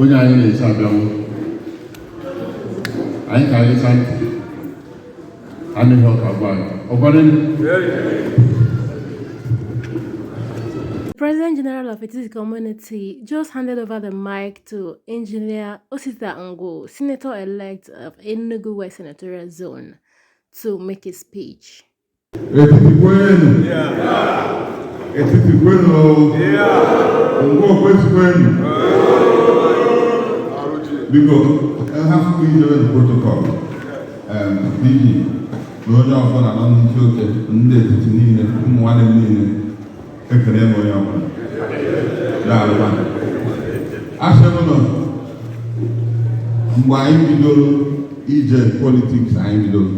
onye anyị na-eche abịawo anyị ka anyị sa ntị nụ ihe ọ ka-agwa anyị ọgwara President General of Etiti Community just handed over the mic to Engineer Osita Ngwu, Senator-elect of Enugu West Senatorial Zone, to make a speech. Etiti kwenu. Etiti kwenu. Ngwo kwezi kwenu. Biko, hafụ m ijere na protocol PG na onye ọbụla nọ n'isi oche ndị Etiti niile ụmụ nwanne m niile ekele m onye ọbụla. Daalụkwa. Asị m na mgbe anyị bidoro ije politics anyị bidoro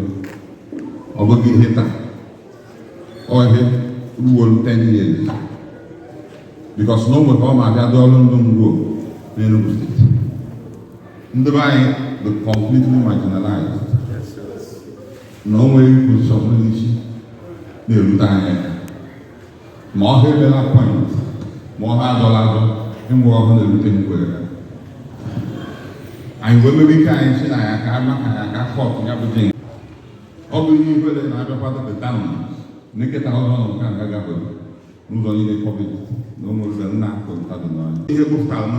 ọ bụghị ihe taa ọ ihe ruo 10 years because na o nwere ka ọ ma abịa dị ọrụ ndị Ngwo n'Enugu State ndị be anyị bụ completely marginalized na o nweghị position n'isi na-erute anyị ma ọ ha emela appoint ma ọ ha adọla adọ enwe ọhụrụ na-erute m kwere ya anyị wee mewe ike anyị si na ya ka ama ka ya ka cut ya bụ jinx ọ bụ ihe ihere na abịakwado peta m neketa ọzọ nọ nke aga gabụ n'ụzọ niile kọbịt na ụmụ ụzọ nna akụ ntadụ n'ọnya ihe gbụpụtara na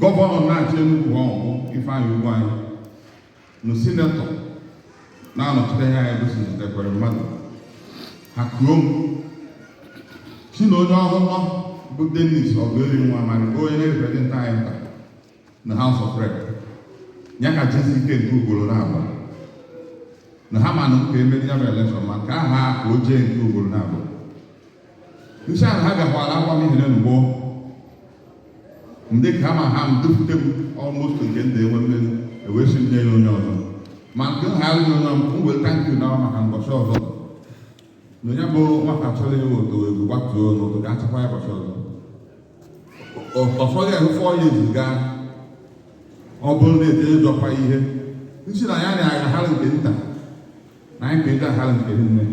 gọvanọ na-achị Enugu ọhụụ Ifeanyi Ugwuanyi na sinetọ na-anọchite anya anyị bụ sinetọ Ekweremadu ha kuo m si na onye ọhụrụ bụ Dennis Oguerinwa Amadi bụ onye na-represent anyị nta na House of Rep ya ka jesi ike nke ugboro na-abụọ na ha ma na m ka emeri ya bụ election ma m ka aha ka o jee nke ugboro na-abụọ m sị ahụ ha gakwara akwa m ihere n'ugbo ndị ka ma ha m dufute m almost nke ndị enwe mmeri ewee si nye ya onye ọzọ ma nke ha alụghị onye ọm m wee tankị na maka mbọchị ọzọ na onye bụ nwata chọrọ ịwụ oto egwu gbatuo n'ụtụ ga achịkwa ya ụbọchị ọzọ ọfọdụ ya 4 years gaa ọ bụrụ na ete ịjọkwa ihe m si na ya na-agagharị nke nta na anyị ga-eji aha nke nne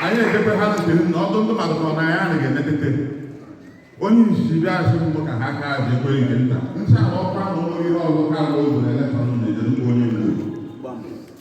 anyị edebe ha nke nne ọdụ ndị mmadụ nọ na ya anaghị emetete onye isi bịa asị mbụ ka ha kaa ji ekwe nke nta ncha na ọkwa na ụlọ ihe ọzọ ka ụzọ na-eleta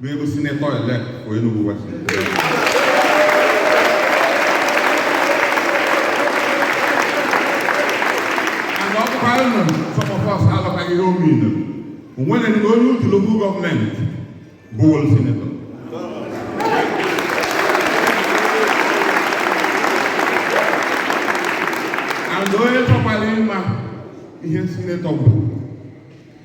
bụ sinetọ elect for Enugu West. And ọ bụkwa unu some of us aghọtaghị ihe ọ mean. O nwere ndị onye Udi local gọọmenti bụ wol sinetọ. And onye chọkwara ịma ihe sinetọ bụ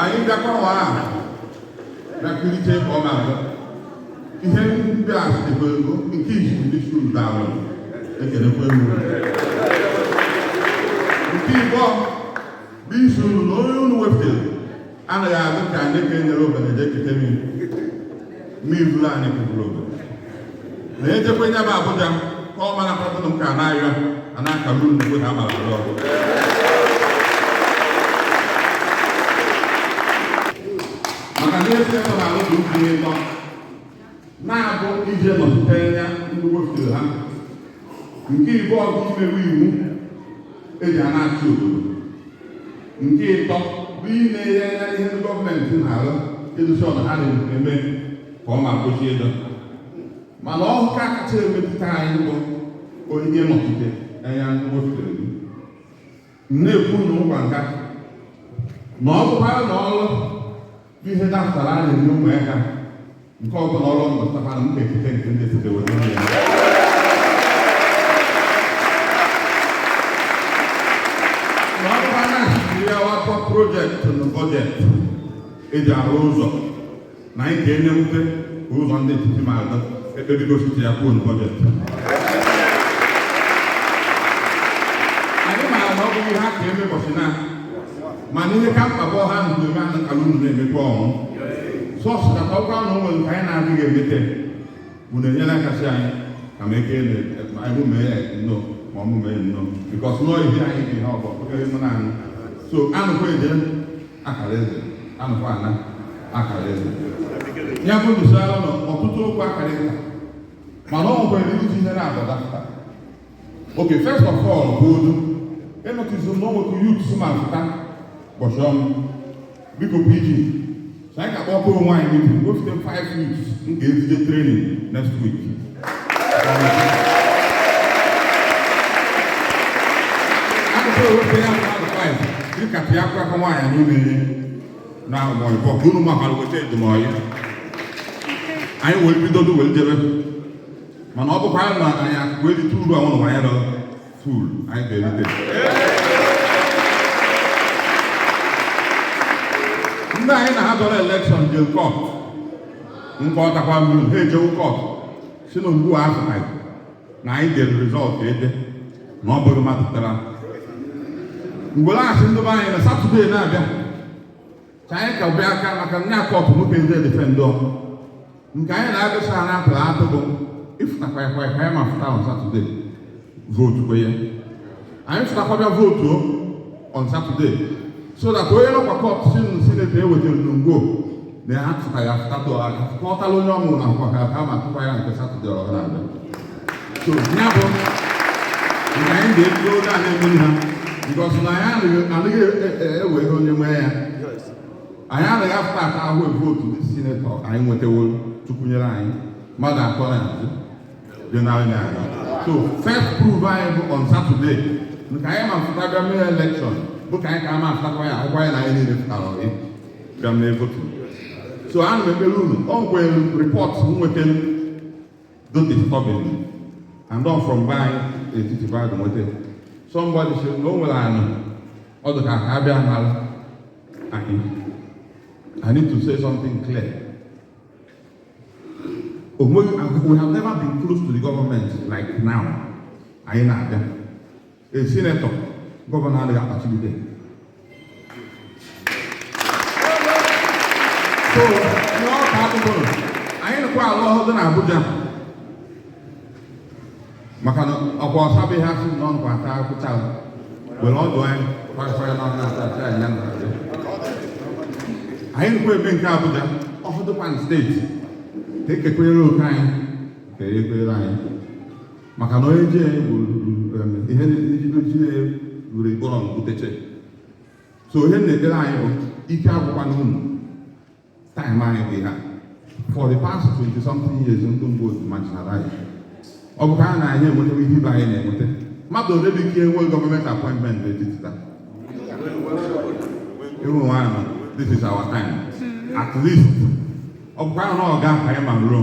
anyị bịakwa ụwa ahụ bịakulite ka ọ na-abụ ihe ndị a sitekwa ego nke izizi bụ ịsị unu daalụ ekelekwa m unu nke ịbụọ bụ ịsị unu na onye unu wepụtara anaghị adị ka anyị ka enyere obodo je kute mmiri mmiri buru anyị keburu obodo na ejekwa nye bụ Abuja ka ọ mara kpatụrụ nke anaghịọ a na-akalụ unu na amara alụ ọgụ maka na esi ebe na alụ dị ukwu ịtọ na-abụ ije nọchite anya ndị wefere ha nke ịbụọ bụ imewe iwu eji a na-achị obodo nke ịtọ bụ inenye anya ihe ndị gọọmenti na-arụ ensure na ha na-eme ka o kwesịrị ịdị mana nke kacha emetụta anyị bụ onye nọchite anya ndị wefere na-ekwu na ụkwa nka na ọ bụkwara na ọrụ ihe dapụtara a na-enye ụmụaka nke ọbụla ọrụ mmụtara m ga-ekete nke ndị sidewe n'ụlọ ya na ọ bụkwara na-achịkiri ya wakwa projektị na bọjetị eji arụ ụzọ na anyị ka enye nwute ka ụzọ ndị etiti ma ada ekpebigo site ya kwuo bọjetị anyị maara na ọ bụghị ha ka eme ụbọchị na mana ihe ka mkpa bụ ọha ndụ eme ana kala unu na-emekwa ọnwụ sọsụ ka ọ gwa na ụmụ nke anyị na-adịghị emete bụ na-enyere aka sị anyị ka m eke anyị mee ya nnọọ ma ọ mụmee nnọọ bikọs nọọ ihe anyị dị ha ọgbọ okere mụ na anyị so anụkwa eje akara eze anụkwa ana akara eze ya bụ ndụsara nọ ọtụtụ okwu akara eze mana ọ nwere iji ihe na-adọdapụta okay first of all bụ odu enọtụzi na onwekwu youth si ma pụta ụbọchị ọnụ biko PG so anyị ga-akpọkọ onwe anyị meeting go fit five weeks m ga-ezije training next week dịka pịa akwa aka nwaanyị n'ime ihe na mọịbọ ka unu makwara weta edumọyị anyị wee bidodo wee jebe mana ọ bụkwa na anyị akụkụ erite uru a nwụrụ nwa ya dọrọ Cool. Anyị ga-erite. Ndị anyị na ha dọrọ elekshọn jee kọt nkwa ọtakwa mmiri ha ejewu kọt si na Ngwo atụghị na anyị dere rizọtụ ede na ọ bụghị mmadụ tụrụ n'Ngwo so ndị be anyị na satọdee na-abịa ka anyị ka bịa aka maka ndị akọtụ nwoke ndị edifendọ nke anyị na-egosi ha na a tụrụ atụ bụ ịfụtakwa ya kwa ka anyị ma fụta on Saturday vootukwa ya anyị fụtakwa bịa vootu on Saturday so that onye nọkwa kọt si nụ sineti ewetara n'Ngwo na ya fụta ya fụta tụọ aka kọtala onye ọmụrụ na akwụkwọ ka ha ma tụkwa ya nke Saturday ọ ga na-abịa so ya bụ na anyị ga-ebido oge a na-emeri ha bikọs na anyị anaghị ewe ihe onye nwee ya anyị anaghị afụta atụ vootu ndị sinetọ anyị nwetaworo tukwunyere anyị mmadụ atọ na azụ dị n'anya anyị so first proof anyị bụ on Saturday nke anyị ma fụta bịa mee elekshọn bụ ka anyị ka ama afụtakwa ya akwụkwọ anyị na anyị niile fụtara ọrị bịa mee votu so ana m ekpere unu ọ nwere rịpọt m nweta dị disturbing and don from be anyị n'Etiti be adụ nweta somebody si na o nwere anụ ọ dị ka ka a bịa mara anyị I need to say something clear onweghị we have never been close to the government like now anyị nwere A senator, Governor Ali Apachibude. So, in all categories, anyị nọkwa na ọhụ dị n'Abuja maka na ọ kwa ọsa bụ ihe a sị na ọ nọkwa ata akwụ cha were ọdụ ya kwagafere na ọna ata ata ya na anyị nọkwa ebe nke Abuja ọhụ dịkwa na steeti ka e kekwere oke anyị ka e kere anyị maka na onye ji anyị gwuru ihe ijide ji na gwuru ikpọrọ mbuteche so ihe m na-ekpere anyị bụ ike agwụkwana unu taịm anyị bụ ihe a for the past 20 something years ndị mgbe otu marginalize anyị ọ bụ ka a na anyị enweta ihe ibe anyị na-enweta mmadụ ole bụ e kenyere gọọmenti apọịntmentị n'Etiti taa ịhụ nwaanyị this is our time at least ọ bụkwa ahụ na ọ ga-aka anyị ma ruo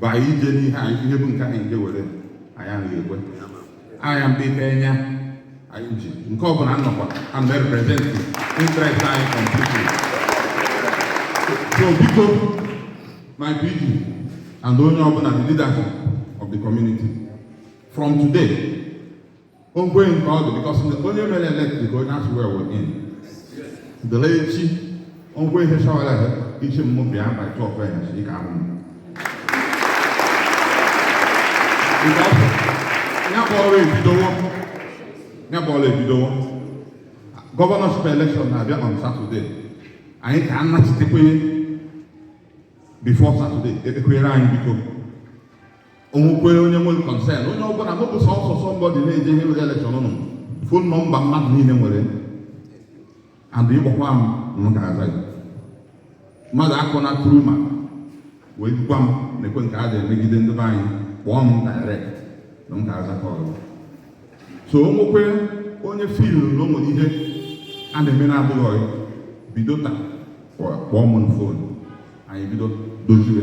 bụ anyị ije n'ihe anyị ihe bụ nke anyị nje were anyị anaghị ekwe anya mgbe ike anya anyị ji nke ọ bụla nnọkwa and represent interest anyị completely so biko my PG and onye ọbụla the leadership of the community from today o nkweghị nke ọ dị because onye mere elected onye a swear in dele echi o nwee ihe shawara ha ichi mmụ bịa by 12 ya si ka ahụ ya bụ ọrụ ebidowo ya bụ ọrụ ebidowo gọvanọship elekshọn na-abịa on satọde anyị ka anachitekwenye bifo satọde ekpekwere anyị biko o nwekwee onye nwere kọnsen onye ọbụla mụ bụ sọsọ somebody na-eje ihe elekshọn na fon nọmba mmadụ niile nwere and ị kpọkwa m m ga-aza gị mmadụ akọna through mmadụ wee gwa m na-ekwe m ka a ga-emegide ndị be anyị kpọọ m direct na m ga-aza kọl so o nwekwee onye fil na o nwere ihe a na-eme na-adịghị ọyị bido taa kpọọ m na fon anyị bido dozie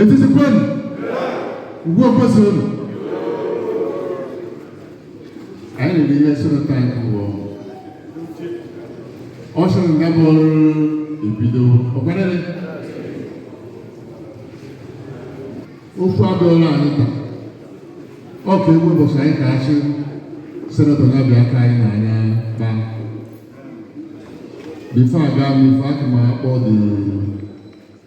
etiti kwenu ugwu kwezuenu anyị riri ihe senatọ anyị ụgwọ ọ sịrị nga bụ ọrụ ebido ọkwarịrị ofu abịọla anyị taa ọ ka egwu ụbọchị anyị ka achị senatọ ya bịa aka anyị n'anya kpaa bifo aga m ife aka m akpọ dị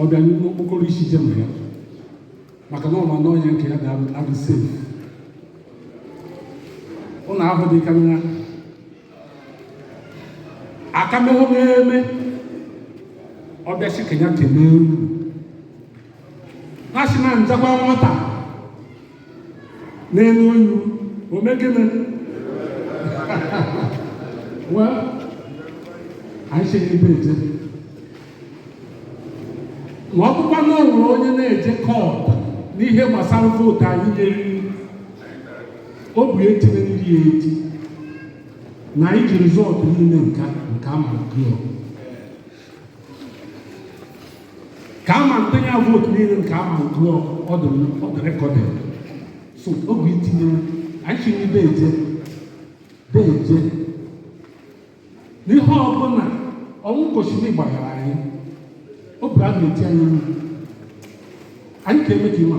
ọ bịa n'okpokoro isi jee ma ya maka na ọ ma na onye nke ya ga-adị safe ụlọ ahụ dị ka nwa akamehụ na-eme ọ bịa sị ka ya kelee unu ha si na njakwa nwata n'elu onyu o mee gịnị well anyị si n'ebe eje ma ọ bụkwa na o nwere onye na-eje kọt n'ihe gbasara vootu anyị nyere ọ bụ etinye ndị ya eti na anyị ji rizọtụ niile nka nke a ma gụọ ka a ma ntụnye ya vootu niile nke a ma gụọ ọ dị rekọdị so ọ bụ itinye anyị si n'ebe eje deeje n'ihe ọbụla o nweghị kwesịrị ịgbanarị anyị ọ bụ a na-eti anyị anyị ka eme ka ịma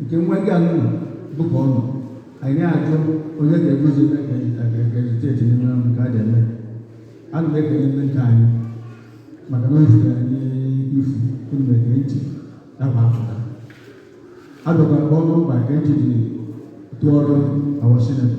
nke nwa gị anụ dụka ọnụ anyị ajụ onye ga-egozi ga-egozi n'ime ọrụ nke a ga-eme ana m ekele ndị nke anyị maka na ozi anyị ifu unu na-ege ntị nakwa afụta adọkwara ọrụ mkpa nke ntị dị tụọrọ awa sinetọ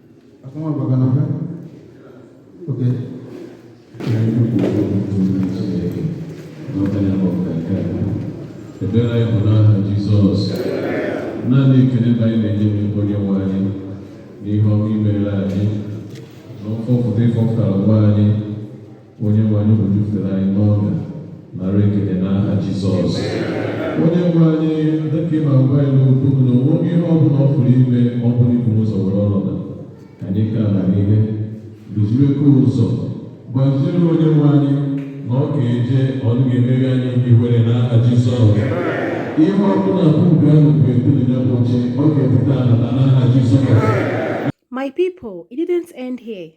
ekpere anyị bụ n'aha Jizọs naanị ekele ka anyị na-enye gị onye nwe anyị n'ihe ọma i mere anyị na mfọpụta ị fọpụtara nwa anyị onye nwe anyị ojufere anyị n'ọga nara ekele n'aha jizọs onye nwe anyị dịka ị na-agwa anyị n'okwu m na o nweghị ihe ọ bụla ọ pụrụ ime ọ bụrụ i bu ụzọ were ọnọdụ ka anyị ka na ihe duziekwa ụzọ gbaziere onye nwe anyị na ọ ga-eje ọ ga-emeghị anyị ihere n'aha jizọs ihe ọ bụla bụ ubi ahụ bụ ebuli ya bụ oche ọ ga-ebute ala n'aha jizọs My people, it didn't end here.